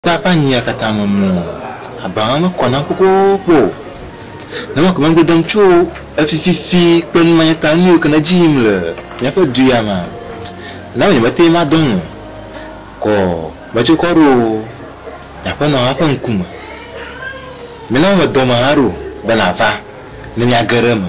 Kpla ƒe anyi ya katã me mlɔ abaa me kɔ nam kpokpokpo o. Ne ema ko megblɔ dem tso efi fifi kple numanyata nuyiwo ke le edzi yim le míaƒe du ya mea, ena be nyemete ŋu madɔ nu o. Kɔ metso kɔ ɖo nye aƒenɔ hã ƒe ŋkume. Mena womedɔm hã ɖo be nava ne míage ɖe eme.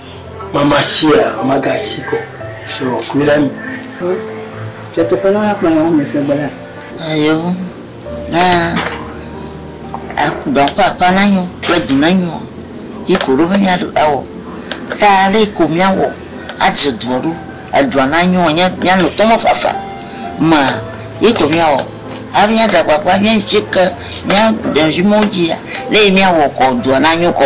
Mama shia, mama ga shi ko. Yo, kui la mi. Tchè te pele la kpala o mese bela. Ayo. Na akuda pa pa na nyo, kwa di na nyo. Ki koro me nya do awo. Ta le ko mi awo. Adze dworu. Adwa na nyo nya nya no tomo fa fa. Ma ki ko mi awo. Abi nya da pa pa nya chika nya de jimo jia. Le mi awo ko dwa na nyo ko.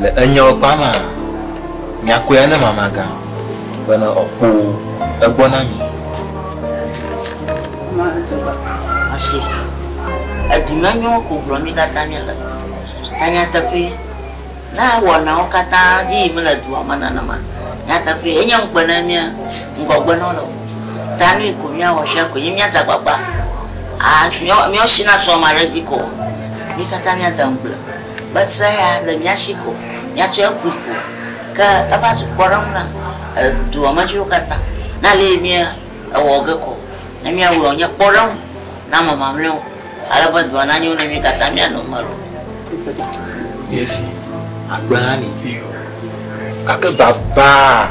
Le enyao kpa maa, miakɔe ane mama gã, bene ɔ kpo egbɔ na mi. Ɔsi, edu na nyɔwo ko gblɔ mi kata mi le. Ta nyateƒee, ne ewɔ nawo kata dzi yim le dua me nenema, nyateƒee, enye ŋukpe ne mia ŋgɔgbe nɔ le o. Ta nui ko mia wɔ shia ko nyi mia dzakpakpa a, mia, mia ɔsi na sɔ ma ɖe dzi ko ɔ, mi kata mia de ŋugble. Mese ya le mía shi ko, míatsɔ eƒui ko, ke eva zu kpɔɖeŋu na dua me viwo katã. Ne ale yi mía ewɔ ge ko, ne mía wɔe wònye kpɔɖeŋu na ame mamlɛwo, ale be dua na nyo ne mí katã mía nɔ eme loo. Míezi agbe hã ni, iyo, gake babaa!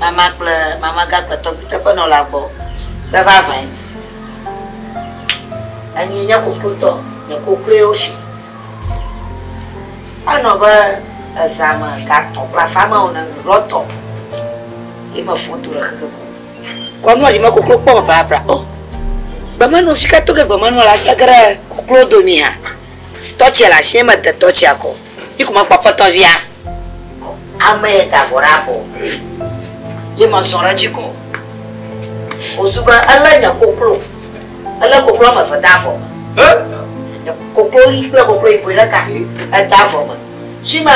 mama kple mamaga kple tɔgbi teƒenɔla gbɔ be vavãe enyi nye kokloitɔ, nye kokloewo si. Anɔ be ezã me ga tɔ̃ kple afã me ene ɖɔ tɔ ye me fɔ do ɖe xexe ko. Kɔ nua ɖi me koklo kpɔ me prapra o. Gbemenɔ si ke to ge gbemenɔ le asia ge ɖe koklo domi hã. Tɔtsia le asie me de tɔtsia kɔ. Yi ko mekpɔ aƒetɔ via. Ame ye da vɔ ɖe abɔ. Ye me zɔ ɖe edzi kɔ. O zu be ele nye koklo. Ele koklo ame eve da vɔ me. He? Koklo ɣi kple koklo yibɔe ɖeka. Eda vɔ me. Shima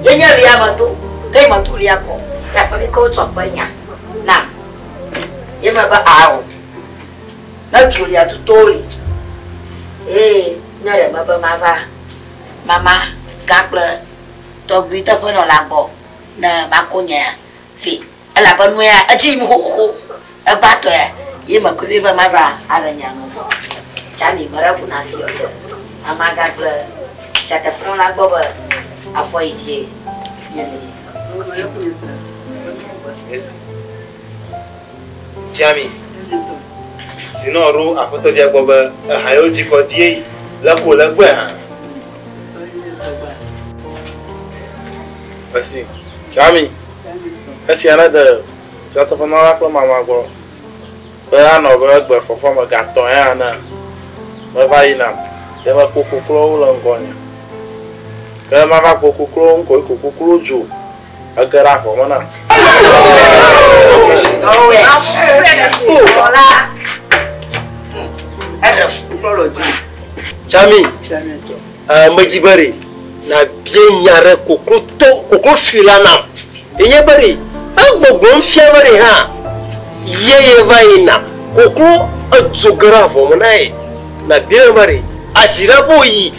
ye nye lia me do. Ke yi me to lia kɔ. Ye akpɔ ɖi ke wo tsɔ ƒe nya nam. Ye me be ao. Ne dro lia tuto li. Ye nye ɖe me be ma va. mama gã kple tɔgbui teƒe nɔla gbɔ ne mako nye vi, elabe nu ya edzi yim xoxo. Egbãtɔe ye mekui vɛ be mava aɖe nye nu gbɔ. Charlie, meɖe ku na Siɔ ɖe mama gã kple tsia teƒe nɔla gbɔ be afɔyi dzie nye le yiyim. Tsiami zinɔ ɖo aƒetɔvia gbɔ be eha yewo dzikɔ die yi le ko le gbɔe hã. Esi Tsiami esia nede fiatɔƒenɔla kple mama gbɔ be anɔ be egbe fɔfɔ me ga tɔ̃e hã ne meva yi nam ye mekpo koklowo le ŋgɔnye. Ke mava kpo koklowo ŋkɔ yi ko koklowo dzo. Ege ɖe avɔ me nam. Jami, eh, medzi be ɖe nàbia nya ɖe koklo to koklo fi la nam. Enye be ɖe egbɔgblɔm fia be ɖe hã ye yeva yina koklo edzo ge ɖe avɔ me na ye. Nàbia be ɖe azi ɖe be wòyi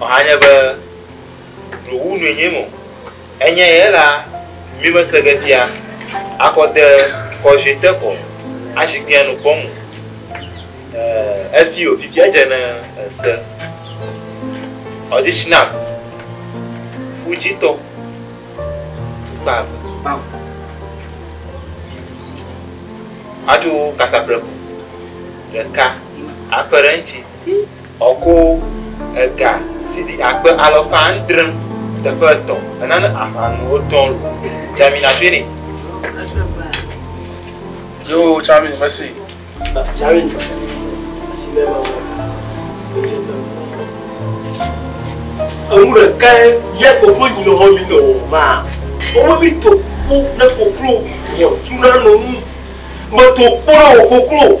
Ɔhanye be ɖowu nue nye mɔ enye ye la mi me se ge fia akɔ de kɔjue te kɔ ashi kpia nu kpɔ mu efi o fifi edze ne ese ɔdishi na uji tɔ tukpa atu kasa pleku ɖeka akpe ɖe ŋuti Ɔko, ega si ɖi akpe alafa adre teƒe etɔ̃ enana aʋa nu wotɔ lo. Dzami natoe nɛ. Yoo Tsami mesi. Tsami asi le ma wɔ na. Edzo na mu wɔ. Enu ɖe ka ye ya koklo nyi le hɔ mi nɔ wɔ ma. Omo mi to ku ne koklo wɔ tu na nɔ nu. Me to ku na wɔ koklo.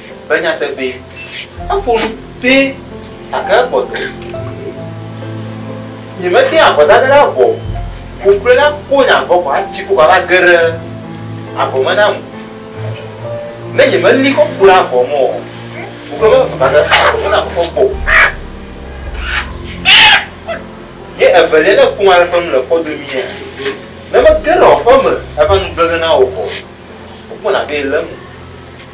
Be nyateƒee, eƒo nu pɛ gake egbɔ dɔ. Nyemete ŋu avɔ dage ɖe avɔ o. Ƒo ƒle la ko nye avɔ kɔ atsi ko vava ge ɖe avɔ me nam. Ne nyemeli kɔ ku ɖe avɔ me o, ƒo ƒle me vava ge ɖe avɔ me nam kpɔ kpɔ o. Ye evelia ne kum ale ƒe nu le kpɔ domia, ne mege ɖe aƒeme eva nu gblege na wò kɔ, wokpɔna be ele eme.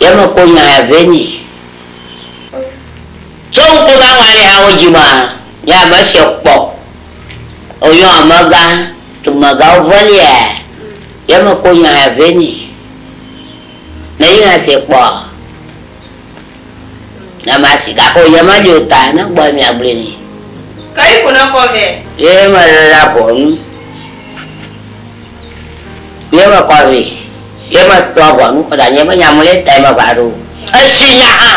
Ye me kpɔ nya ya vɛ nyi. Tsɔ ŋkpɔ va ŋwa le hawo dji ma nye ame siɔ kpɔ o yɔ amegã dumegã wo vɔ lia ye me kpɔ nya ya vɛ nyi. Ne yi ha se kpɔ. Na masi gakɔ yemado ta na gbɔe miagblɔe nɛ. Ke yi ko nɔkɔ vɛ. Ye mele la ʋɔnu. Ye mekɔ vɛ. Ye metɔ ʋɔnu kɔ ɖe anyi be nya mele tae me va ɖo. Esi nya hã.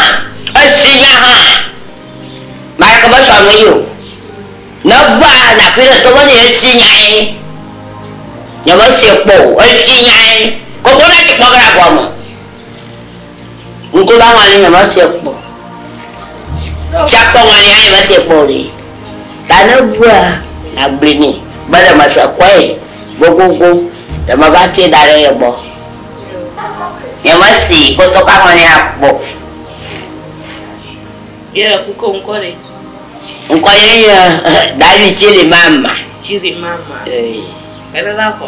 Esi nya hã. Maleke me tsɔ nu yi o. Ne va naƒi ɖe to me nɛ esi nyae. Nye me sie kpɔ o. Esi nyae. Koko ɖe dzi kpɔ ge ɖe aʋua me. Ŋkuɖaŋua nye nyemeva se kpɔ o. Tsiakpeŋua nye nyemeva se kpɔ o ɖe. Ta ne ebua, nàgblɔe nɛ be ɖe mese kpɔe gogogo, ɖe meva tsɔe da ɖe ye gbɔ. Nyemese kpɔtɔkaŋua nye hã kpɔ o. Ye le ku ke ŋkɔ ɖe? Ŋkɔ ye nye David Chirimama. Chirimama. Ee. Ene va kɔ.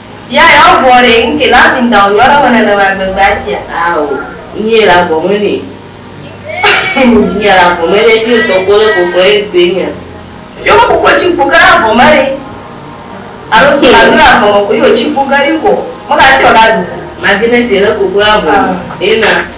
Ya ya vɔ re nke la mi nda o yɔɖe me nene ma gbegbe atia. Ao, nye la vɔ me ne. Nye la vɔ me ne fio tɔ kɔ le kɔkɔ ye ŋutɔ ye nya. Fio me kɔkɔ tsi kpo ke la vɔ me re. Alo so la nu la vɔ me ko yo tsi kpo ke ri kɔ. Me ka te yo ka du. Ma di ne te le kɔkɔ la vɔ me. Ena.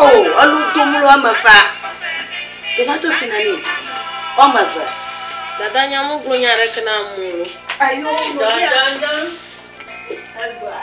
O! Elu dom le woame evea. Tomatosi nani o. Woame eve. Dada nya me gblɔ nya ɖeke na amewo lo. Eyo lo ya. Dada nya egblɔa.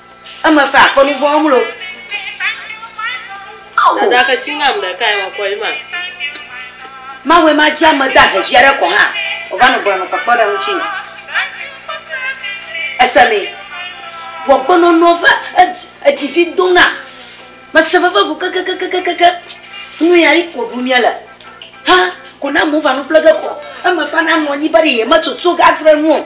Eme fe akɔ nu vɔ̃ wɔm loo. Ao! Dada ke tsi ŋam ɖe kae wakɔ yi ma. Mawɔe ma dzi ame dahe zi aɖe kɔ hã wòva nɔ gblɔnɔ kpekpe ɖe ŋutinye. Èse mee? Wò agbenɔnɔ va edzi edzi vi dom nam. Mese veve go kekekekekeke. Nu ya yi ko ɖum míele. Hã ko ne amewo va nu ƒle ge koa, eme fana nɔ anyi be ɖe yemetutu gadzre nu o.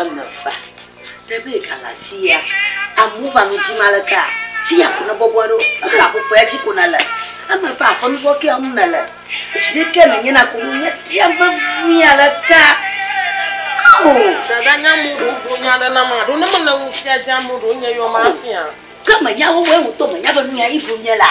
eme va. Ne be ega le afia, amewo va nu dzim aleke? Fiya ko ne bɔbɔ ɖo. Ebe aƒuƒua dzi ko nèle. Eme va aƒe nu vɔ̃ kea ŋu nèle. Zi ɖe ke nènye na ko nuye biam vevie aleke? Ao! Dada nye amewo ɖewo gblɔ nya ɖe nam aɖo ne mele nu fia dzi amewo ɖewo nye yɔ mafia. Ke menya wowoe ŋutɔ menya be nu yae ɖum nye la.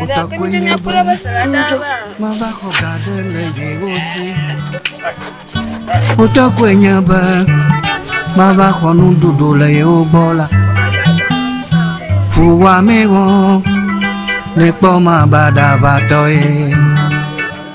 Ƒutakɔe nye be mava xɔ ga aɖe le yewo si. Ƒutakɔe nye be mava xɔ nuɖuɖu le yewo gbɔ la. Fuwɔamee wɔm, nekpɔ mabaɖaʋatɔe.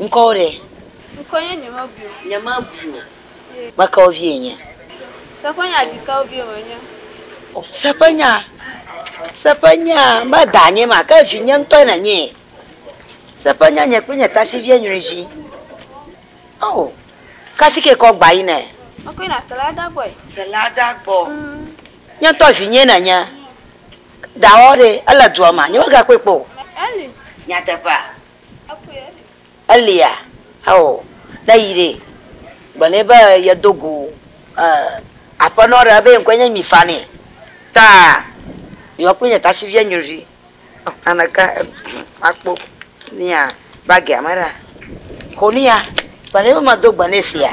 Ŋkɔ wo ɖe? Ŋkɔ nye nyemebui o. Nyemebui o. Me ke wo vie nye? Seƒenya dzi ke wo vie me nye? Seƒenya, seƒenya, me da nye ma ke vi nye ŋtɔe ne nye? Seƒenya nye kple nye tasi vie nyui vi. Oh kasi ke kɔ gba yi ne? Me kɔ yi na sela da gbɔe. Sela da gbɔ. Nye ŋtɔ vi nye ne nye? Dawɔ ɖe ele dua ma nye me ga kpɔe kpɔ o. Eli. Nyateƒea? Elia, ao, ne yi ɖe, gblɔ nɛ be yedo go Aƒenɔ ɖe be ye ŋkɔe nye Mifa nɛ. Ta yɔ kple nye tasiʋia nyɔnui. Ameka akpɔ mía bagia me ɖa? Xɔ nuya. Gblɔ nɛ be medo gbe nɛ esia.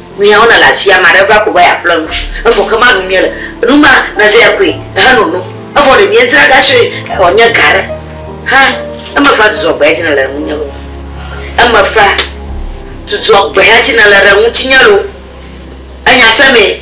Miawo na le asia ame aɖe va ko va yeaƒle nu, evɔ ke ma ɖum miele, nu ma na vea koe ehe no nu, evɔ ɖe miedzra ga sue ɔ nye ga ɖe hã eme fa dzudzɔ gbea dzi nele ŋunye lo, eme fa dzudzɔ gbea dzi nele ɖe ŋutinye lo, enya se mee.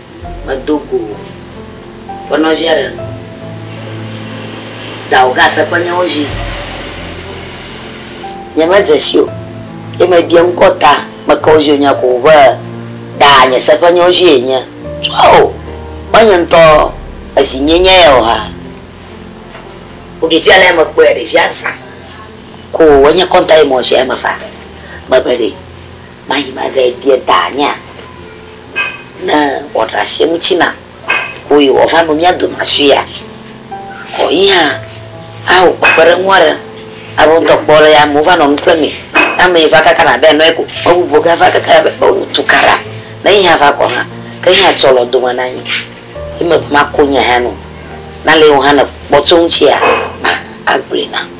Medo go wò be nɔvia ɖe dawò ga se kple nyɔwo zi. Nye me dze si o ye me bia ŋkɔ ta me ke wo zi o nya ko be da nye se ƒe nyɔwo zi ye nye tsɔa o me nye ŋutɔ ezi nye nye ya o ha. Wo ɖevia le ya me kpɔe ɖevia zã ko wo nye kɔnta ye me wɔ sia ye me fa me be ɖe. Mayi mave bia danyea ne wòaɖe asi eŋuti nam ko yi wòava nɔ mía dome afia, ko yi hã awɔ kpekpeɖeŋu aɖe alo ŋutɔ kpɔ alesi amewo va nɔ nu ƒlem mee. Ne ame yi va kakana abe enɔe ko, ame bubu gã va kakana be o tu ka ɖa, ne yi hã va kɔ hã, ke yi hã atsɔ le wo dome na mí. Ye mebe mako nya ya na wò. Ne ale wò hã nèkpɔ tso eŋutia, na agblɔe nam.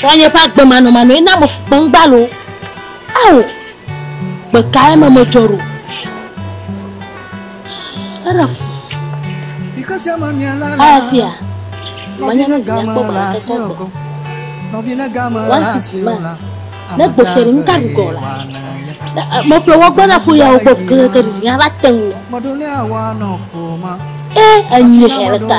Srɔ̃nye ƒe agbemanɔmanɔe na mefukpem gbalo. Ao! Gbe kae me medzɔ ɖo? Eɖe fu. Aya fia. Manya ne gbɔ gbɔ gbɔ gbɔ. Wɔn sisi ma. Ne gbɔ fia ni nka ɖu gɔ la. Mo ƒe wɔ gbɔ na fo ya wɔ gbɔ keke ɖi ya va te ŋu. Ee enyi hɛrɛ ta.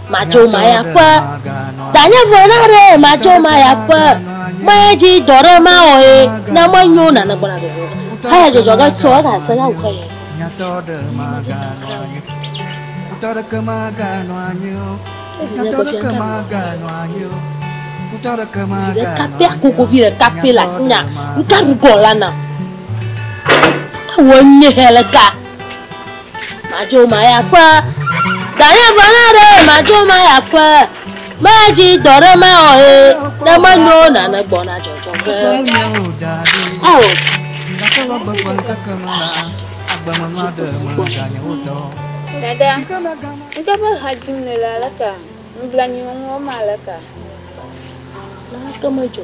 Matso maya ƒe. Danye ƒe na ɖe matso maya ƒe. Maya dzi dɔ ɖe ma wɔ ye. Na me nyo na ne gbɔna dzodzo. Haya dzodzo ke tsɔ ka se ka wuhe ye. Nyatɔ ɖe ma ga nɔ anyi. Kutɔ ɖe ke ma ga nɔ anyi. Nyatɔ ɖe ke ma ga nɔ anyi. Kutɔ ɖe ke ma ga nɔ anyi. Kapia kuku vi ɖe kapia la sinya. Nka rugɔ la na. Awo nye hele ka. Madzo maya ƒe. Danye ʋe na ɖe madzo maya ƒe. Medzi dɔ ɖe mawɔ ye. Ne menyo nane gbɔna dzɔdzɔ ge. O. Dada, ŋutɔ ƒe ha dzim nèle aleka? Nublanui wɔm aleka? Naneke medzɔ.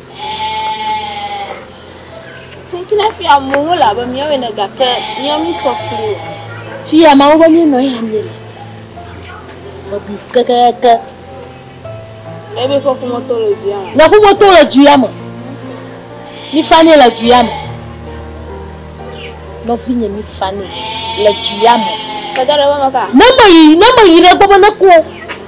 Tsinkina fia mo wo la be miawe ne gake mia mi sɔ kpli o. Fia ma wo be mi no ya mi. Ebi keke keke. Ebe fo fo moto le ju ya me. Na fo moto le ju ya me. Mi fani le ju ya me. No fi nye mi fani le ju ya me. Kada le ba maka. Na me yi, na me yi le gbɔ be ne ko.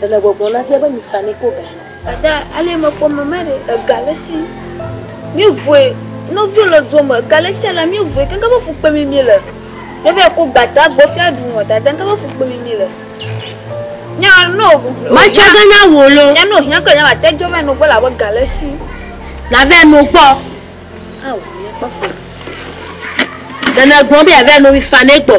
Ɖe le gbɔgblɔm na fia be mi sa ni ko ga. Dada ale me kpɔ mama ɖe ega le si mi vue nɔvio le dua me ega le si ala mi vue ke ŋgebe fu kpe mi mi le ne va yi ko gbata gbɔ fia ɖu nɔ dada ŋgebe fu kpe mi mi le nya no o ma tsɔ ge na wo lo nya no hiã kple nya ma te dɔ va yi no gbɔ la be ga le si na va yi no gbɔ ha wo mi kpɔ fu ɖe ne gbɔ be ya va yi no mi fa ne gbɔ.